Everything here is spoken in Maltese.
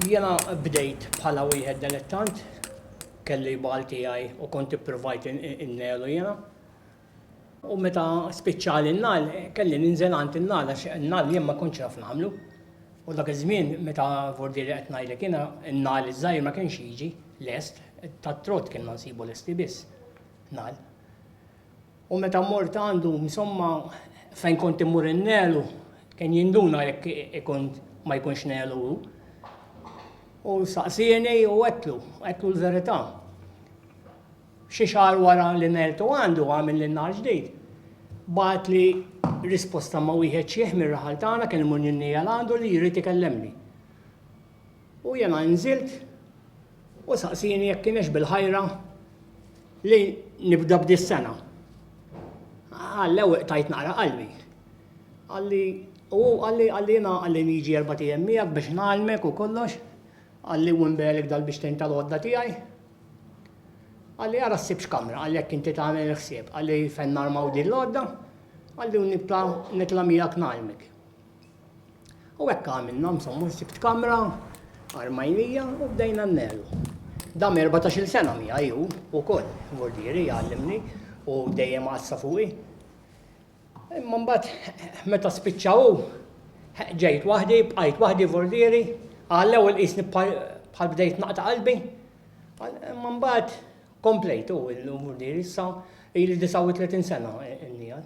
Jiena bdejt bħala wieħed delettant, kelli bal tiegħi u kont ippruvajt innelu jiena. U meta spiċċali n-nal, kelli ninżel għand in-nal għax in-nal jien ma kontx naf nagħmlu. U dak iż-żmien meta vordieri qed ngħidlek jiena n-nal iż-żgħir ma kienx jiġi lest, tat-trott kienna nsibu lesti biss nal. U meta mort għandu, insomma, fejn kont immur innelu, kien jinduna jekk ikun ma jkunx nelu hu. U saqsieni u għetlu, għetlu l-verità. Xi xahar wara li neltu għandu għamil li nar ġdid. Bat li risposta ma wieħed xieħ mir-raħal tagħna kien imur ninnija għandu li jrid ikellemni. U jiena inżilt u saqsieni jekk kienx bil-ħajra li nibda b'dis-sena. Qallew iqtajt naqra qalbi. Qalli u hu qalli qalli jiena qalli niġi erbat ijiem miegħek biex ngħallmek u kollox. Qalli u nbegħlek dal-bixtejn tal-għodda tiegħi. Qalli ara ssib x'kamra, qalli jekk inti tagħmel il-ħsieb, qalli fejn narmaw din l-għodda, qalli u nibqa' nitla' miegħek ngħallmek. U hekk għamilna, insomma, sibt kamra, armajnija u bdejna nnelu. Dam 14 sena mija ju, u koll, vordieri, għallimni, u dejjem għassa fuqi. Imma mbagħad meta spiċċaw ġejt waħdi, bqajt waħdi vordieri, għallew il-qisni bħal bdejt naqta qalbi. Imma mbagħad komplejtu il-vordieri issa ili 39 sena n-nijal.